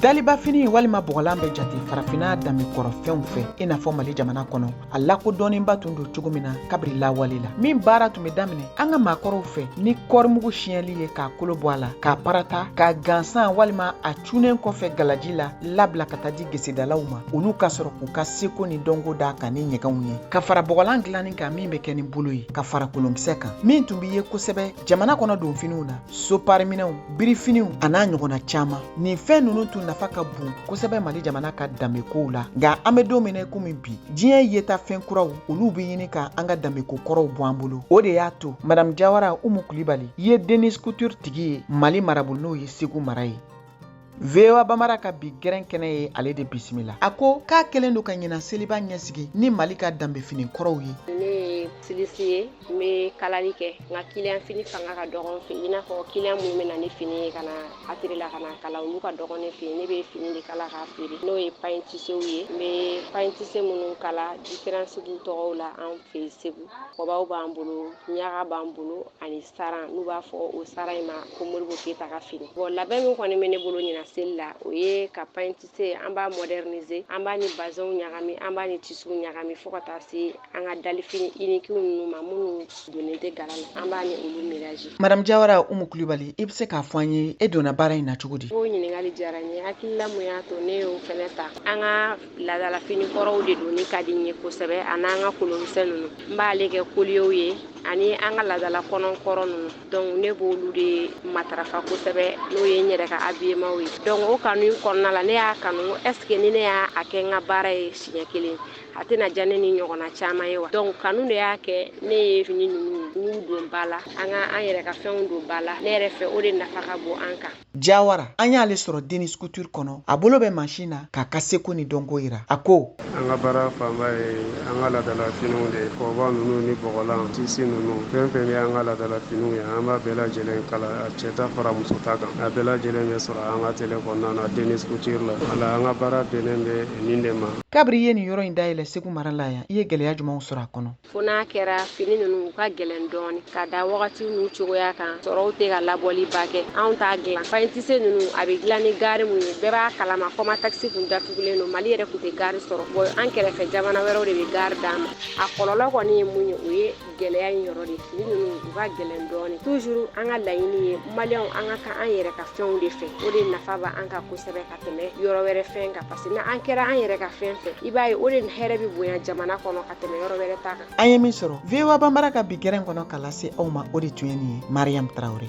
dalibafini walima bɔgɔlan bɛ jate farafinna danbe kɔrɔfɛnw fɛ i n'a fɔ mali jamana kɔnɔ a lakodɔnnenba tun don cogo min na kabiri lawale la min baara tun bɛ daminɛ an ka maakɔrɔw fɛ ni kɔɔrimugu siyɛnli ye k'a kolo bɔ a la k'a parata k'a gansan walima a cunen kɔfɛ galaji la labila ka taa di gesedalaw ma olu ka sɔrɔ k'u ka seko ni dɔnko d'a kan ni ɲɛgɛnw ye ka fara bɔgɔlan dilanni kan min bɛ kɛ ni bolo ye ka fara kolonkisɛ kan min tun bɛ ye kosɛbɛ jamana kɔnɔ donfiniw na sopariminɛw birifiniw a n'a ɲɔgɔnna caman nin fɛn ninnu tun nafa ka bon kosɛbɛ mali jamana ka danbekow la nka an bɛ don min na komi bi diɲɛ yeta fɛn kuraw olu bɛ ɲini ka an ka danbeko kɔrɔw bɔ an bolo o de y'a to madamu jawara umu kulibali ye denis couture tigi ye mali marabolo n'o ye segu mara ye voa bambara ka bi gɛrɛn kɛnɛ ye ale de bisimila a ko k'a kɛlen don ka ɲina seliba ɲɛsigi ni mali ka danbefini kɔrɔw ye ne ye styliste ye n be kalali kɛ nka kiliyan fini fanga ka dɔgɔ n fɛ i n'a fɔ kiliyan minnu be na ni fini ye ka na atelier la ka na kala olu ka dɔgɔ ne fɛ ne be fini de kala k'a feere n'o ye paɲitisew ye n be paɲitise minnu kala diferansi b'u tɔgɔw la an fɛ segu kɔbaw b'an bolo ɲaga b'an bolo ani saran n'u b'a fɔ o saran in ma ko modibo keyita ka fini bɔn labɛn min kɔni bɛ ne bolo ɲina seli la o ye ka paɲitise an b'a modernize an b'a ni bazɛnw ɲagami an b'a ni tisiw ɲagami fɔɔ ka taa se an ka dalifini inikiw ninnu ma minnu donnen tɛ gala la an b'a ni olu melanze madame jawara umu kulibali i bɛ se k'a fɔ an ye e donna baara in na cogo di o ɲininkali diyara n ye hakilila mun y'a to ne y'o fɛnɛ ta an ka ladalafini kɔrɔw de donni ka di n ye kosɛbɛ ani an ka kolonkisɛ ninnu n b'ale kɛ koliyew ye ani an ka ladala kɔnɔ kɔrɔ ninnu dɔnku ne b'olu de matarafa kosɛbɛ n'o ye n yɛrɛ ka abiyemanw ye dɔnku o kanu kɔnɔna la ne y'a kanu ɛsike ni ne y'a kɛ n ka baara ye siɲɛ kelen a tɛna diya ne ni ɲɔgɔnna caman ye wa dɔnku kanu de y'a kɛ ne ye fini ninnu don ba la an ka an yɛrɛ ka fɛnw don ba la ne yɛrɛ fɛ o de nafa ka bon an kan Jawara an y'ale sɔrɔ Denis Couture kɔnɔ a bolo bɛ mansin na k'a ka seko ni dɔnko yira a ko an ka baara fanba ye an ka ladala finiw de kɔba ninnu ni bɔgɔlan tisi ninnu fɛn fɛn bɛ an ka ladala finiw ye an b'a bɛɛ lajɛlen kala a cɛta fara musota kan a bɛɛ lajɛlen bɛ sɔrɔ an ka atelier kɔnɔna na Denis Couture la wala an ka baara bɛnnen bɛ nin de ma. Kabiri i ye nin yɔrɔ in dayɛlɛ Segu mara la yan i ye gɛlɛya jumɛnw sɔrɔ a kɔnɔ? fo n'a kɛra fini ninnu u ka gɛlɛn dɔɔni ka da wagati n'u cogoya kan sɔrɔw tɛ ka labɔli ba kɛ anw t'a dilan paɲitise ninnu a bɛ dilan ni gari mun ye bɛɛ b'a kalama kɔmatɛkisi kun datugulen don mali yɛrɛ kun tɛ gari sɔrɔ bɔn an kɛrɛfɛ jamana wɛrɛw de bɛ gari d'an ma a kɔlɔlɔ kɔni ye mun ye o ye gɛlɛya in yɔrɔ de fini ninnu u ka gɛlɛn dɔɔni tuzuru an ka laɲini ye maliyɛnw an ka kan an yɛrɛ ka fɛnw de fɛ o de nafa b'an kan kosɛbɛ tɛmɛ yɔrɔ wɛrɛ fɛn kan parce que n'an kɛra an yɛrɛ ka fɛn fɛ i b'a ye o de hɛrɛ bɛ bonya jamana kɔnɔ ka tɛmɛ yɔrɔ wɛrɛ ta kan an ye min sɔrɔ voa banbara ka bi gɛrɛn kɔnɔ ka lase aw ma o de tun ye nin ye mariam tarawele